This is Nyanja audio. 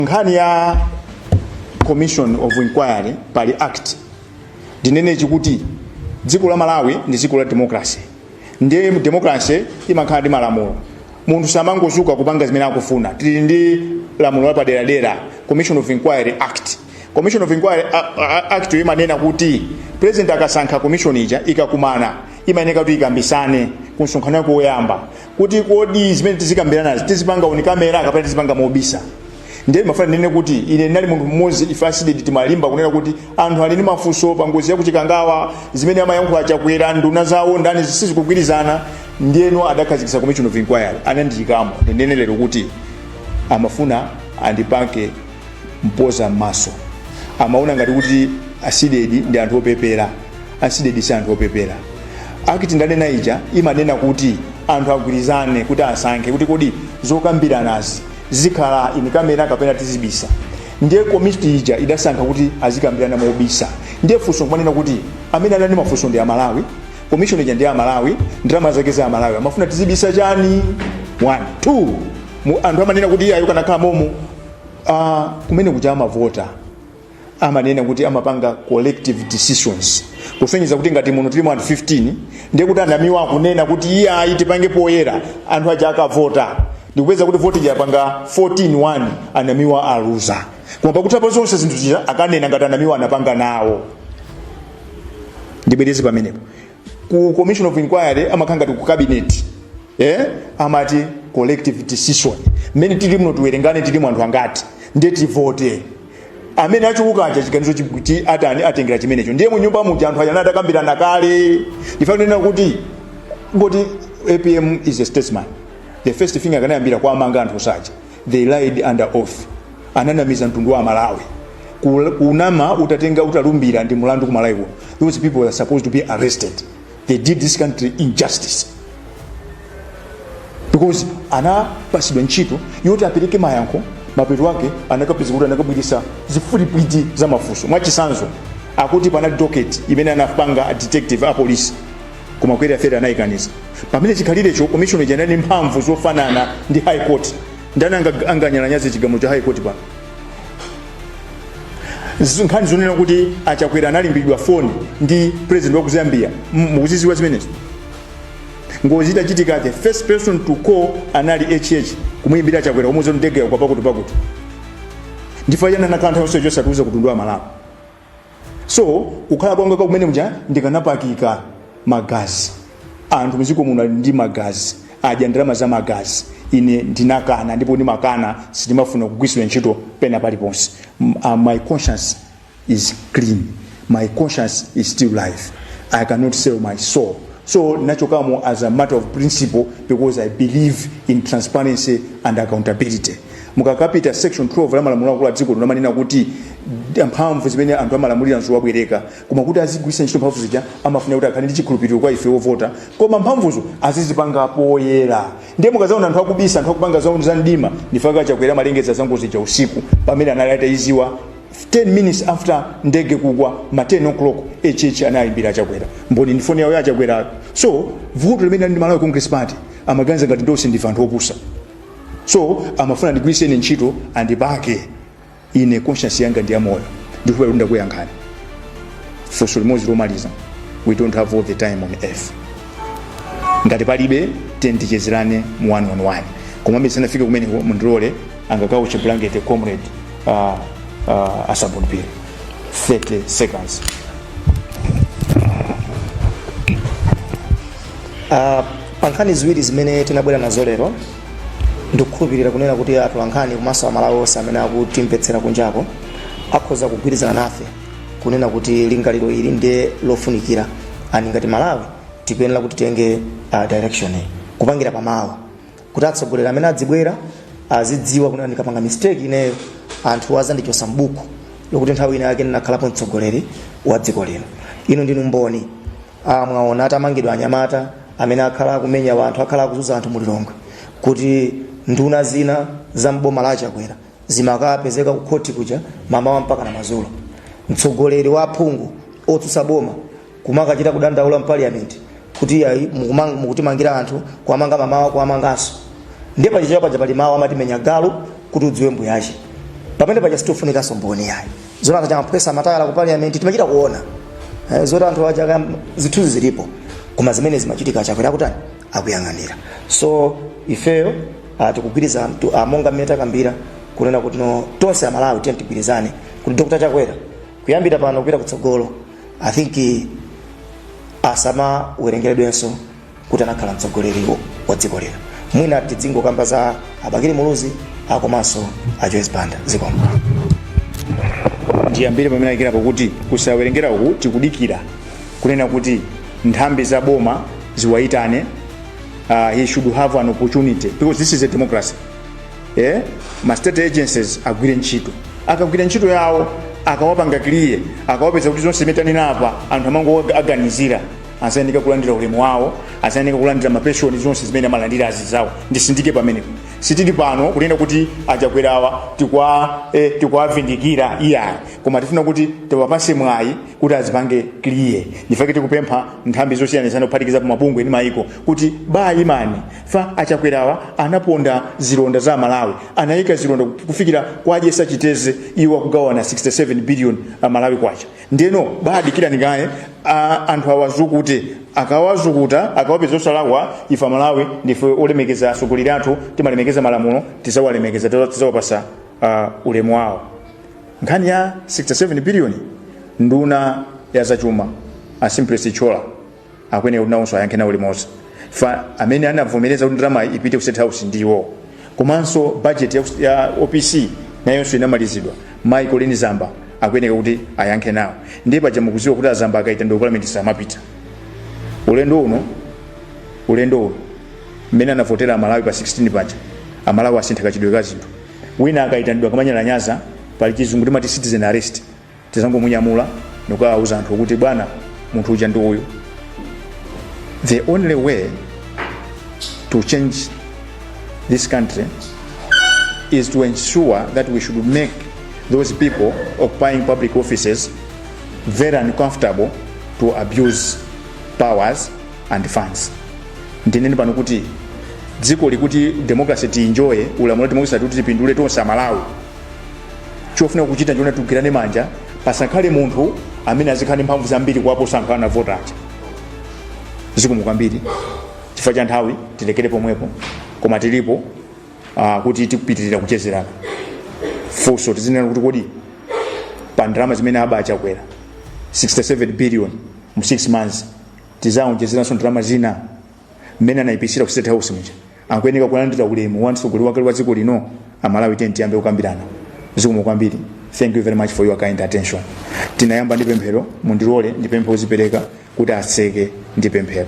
nkhani ya commission of inquiry pali act ndinene chi kuti dziko la malawi ndi dziko la democracy ndiye democracy imakhala ndi malamulo munthu samangozuka kupanga zimene akufuna tili ndi lamulo lapaderadera commission of inquiry act commission of inquiry a- a- act yo imanena kuti president akasankha commission ija ikakumana imayenera kuti ikambirane ku msonkhano wake woyamba kuti kodi zimene tizikambiranazi tizipanga on camera kapena tizipanga mobisa ndiye ndimafuna ndinene kuti ine ndinali munthu mmodzi ife a cdedi timalimba kunena kuti anthu ali ndi mafunso pa ngozi yakuchikangawa zimene amayankhula chakwera nduna zawo ndani sizikugwirizana ndiyeno adakhazikitsa commission of inquiry anandiyikamo ndinene lero kuti amafuna andipake mpoza m'maso amaona ngati kuti a cdedi ndi anthu opepera A cdedi si anthu opepera. Act ndanena ija imanena kuti anthu agwirizane kuti asankhe kuti kodi zokambiranazi zizikhala in camera kapena tizibisa. Ndiye komiti ija idasankha kuti azikambirana mobisa. Ndiye funso nkumanena kuti amene anali ndi mafunso ndi Amalawi, commission ija ndi ya Amalawi, ndalama zake za Amalawi. Amafuna tizibisa chani? One. Two, mu, anthu amanena kuti iyayo akanakhala momo. Ah, kumene kuja amavota. amanena kuti amapanga collective decisions kusonyeza kuti ngati muno tilimo anthu 15 ndiye kuti anamiwa akunena kuti iyayi tipange poyera anthu aja akavota ndikupeza kuti voti yapanga 14-1 anamiwa aluza koma pakutha pa zonse zinthu zija akanena ngati anamiwa anapanga nawo ndibwereze pamenepo ku commission of inquiry amakhala ngati ku cabinet eh? amati collective decision mmene tili muno tiwerengane tilimo anthu angati ndiye tivote amene achuluka aja chiganizo chi- chi- atani atengera chimenecho ndiye mu nyumba muja anthu aja atakambirana kale ndiyenera kunena kuti ngati apm is a statesman the first thing akanayambira kuwamanga anthu onse aja they lied under oath ananamiza mtundu wa amalawi Kul- kunama utatenga utalumbira ndi mulandu ku malawi kuno those people were supposed to be arrested they did this country injustice because anapasidwa ntchito yoti apereke mayankho mapeto ake anakapeza kuti anakabweretsa zifulipwiti za mafunso mwachisanzo akuti panali docket imene anapanga a detective a polisi koma query theory anayikaniza pamene chikhalirecho commission ija inali ndi mphamvu zofanana ndi high court ndani anga- anganyalanyaze chigamulo cha high court pano Z- nkhani zonena kuti achakwera anayimbiridwa foni ndi president wa ku zambia M- mukuziziwa zimenezo ngozi itachitika the first person to call anali hh kumuyimbira achakwera kumuuza kuti ndege yakwa pakuti pakuti ndi chifukwa chiyani nkhani yonse yosatiuza ku mtundu wa malawi so kukhala kwanga kwa kumene muja ndikanapakika magazi anthu mdziko muno ali ndi magazi adya ndalama za magazi ine ndinakana ndipo ndimakana sindimafuna kugwiritsidwa ntchito pena paliponse M- uh, my conscience is clean my conscience is still alive i cannot sell my soul so ndinachokamo as a matter of principle because i believe in transparency and accountability mukakapita section 12 la malamulo akulu a dziko lino amanena kuti d- mphamvu zimene anthu amalamulira nzowabwereka koma kuti azigwiritsa ntchito mphamvu zija amafuna kuti akhale ndi chikhulupiriro kwa ife ovota koma mphamvuzo azizipanga poyera ndiye mukazaona anthu akubisa anthu akupanga za za mdima nchifukwa chakwera amalengeza za ngozi ja usiku pamene anali atayiziwa 10 minutes after ndege kugwa ma 10 o'clock hh anayimbira achakwera mboni ndi foni yawo ya achakwera so vuto limene ali ndi malawi congress party amaganiza ngati tonse ndife anthu opusa so amafuna andigwiritse ine ntchito andipake ine conscience yanga ndi yamoyo ndikhulupirira kuti ndakuyankhani funso limodzi lomaliza we don't have all the time on earth ngati palibe then tichezerane mu one on one koma musanafike kumeneko mundilole angakauche blanket comrade uh, uh, asabuni phiri 30 seconds Uh, pa nkhani ziwiri zimene tinabwera nazo lero ndikukhulupirira kunena kuti atolankhani komanso amalawi onse amene akutimvetsera kunjako akhoza kugwirizana nafe kunena kuti lingaliro ili ndiye lofunikira and ngati malawi tikuyenera kuti titenge uh, direction iyi kupangira pamawa kuti atsogoleri amene adzibwera azidziwa kunena ndikapanga mistake ineyo anthu azandichosa mbuku lokuti nthawi ina yake ndinakhalapo mtsogoleri wa dziko lino inu ndinu mboni a mwaona atamangidwa anyamata amene akhala akumenya wanthu akhala akuzuza anthu mulilongwe kuti nduna zina za mboma la chakwera zimakapezeka kukhoti kuja mamawa mpaka na mazulo mtsogoleri wa aphungu otsutsa boma kumakachita kudandaula mpaliyamenti kuti ayi mukumang- mukutimangira anthu kuwamanga mamawa kuwamanganso ndiye pachichewa paja pali mawu amati menya galu kuti udziwe mbuyache pamenepaja sitifunikaso mboni yayi zoona kuti amaphwetsa matayala ku parliament timachita kuona Eh, zoti anthu aja zithunzi zilipo koma zimene zimachitika achakwera akutani akuyang'anira so ifeyo ah, tikugwirizana tu- ah, monga mmene takambira kunena kuti no tonse amalawi tiyeni tigwirizane kuti dr chakwera kuyambira pano kupita kutsogolo i think eh, asamawerengeredwenso kuti anakhala mtsogoleri wa dziko lino mwina tidzingokamba za abakili muluzi akomanso a joyce banda zikomo ndiyambire pamene alekera pokuti kuti kusawerengera uku tikudikira kunena kuti nthambi za boma ziwayitane uh, he should have an opportunity because this is a democracy eh? ma state agencies agwire ntchito akagwira ntchito yawo akawapanga clear akawapeza kuti zonse zimene tanena apa anthu amangoaganizira azayendeka kulandira ulemu wawo azayeneka kulandira mapenshoni zonse zimene amalandira azizawo ndisindike pamenepo sitili pano kunena kuti achakwerawa tikwa eh, tikwavindikira iyayi koma tifuna kuti tiwapase mwayi kuti azipange clear ndifake tikupempha nthambi zosiyanasiyana kuphatikizapo mabungwe ndi mayiko kuti baimani fa achakwerawa anaponda zilonda za malawi anayika zilonda kufikira kwa jessie chiteze iwo akugawana 67 billion amalawi kwacha ndeno baadikirani kaye a- anthu awazukute akawazukuta akawapeza osalakwa ife amalawi ndife olemekeza atsogoleri athu timalemekeza malamulo tizawalemekeza tiza- tizawapasa uh, ulemu wawo nkhani ya 67 biliyoni nduna ya zachuma a simplex chithyola akuyenera kuti nawonso ayankhe nawo limodzi fa amene anavomereza kuti ndalama ipite ku state house ndiwo komanso budget ya, kus- ya opc nayonso inamalizidwa mayi colleen zamba akuyenera kuti ayankhe nawo ndiye paja mukuziwa kuti azamba akaitanidwa kupalamenti samapita ulendo uno ulendo uno mmene anavotera amalawi pa 16 paja amalawi asintha kachitidwe ka zinthu wina akayitanidwa kamanyalanyaza pali chizungu timati citizen arrest tizangomunyamula ndikukawauza anthu kuti bwana munthu uja ndi uyu the only way to change this country is to ensure that we should make those people occupying public offices very uncomfortable to abuse powers and funds ndinene pano kuti dzikoli kuti democracy tiinjoye ulamuliro wa democracy kuti tipindule tonse amalawi chofuna kuchita n'choona tigwirane manja pasakhale munthu amene azikhala ndi mphamvu zambiri kuwaposa anthu anavota aja zikomo kwambiri chifukwa cha nthawi tilekere pomwepo koma tilipo uh, kuti tipitirire kuchezerana funso tizinena kuti kodi pa ndalama zimene aba a chakwera 67 billion mu 6 months tizaonjezeranso ndalama zina mmene anayipitsira ku state house muja akuyeneka kulandira ulemu wa mtsogoleri wakale wa dziko lino amalawi tiyeni tiyambe kukambirana zikomo kwambiri thank you very much for your kind attention tinayamba ndi pemphero mundilole ndipemphe wozipereka kuti atseke ndi pemphero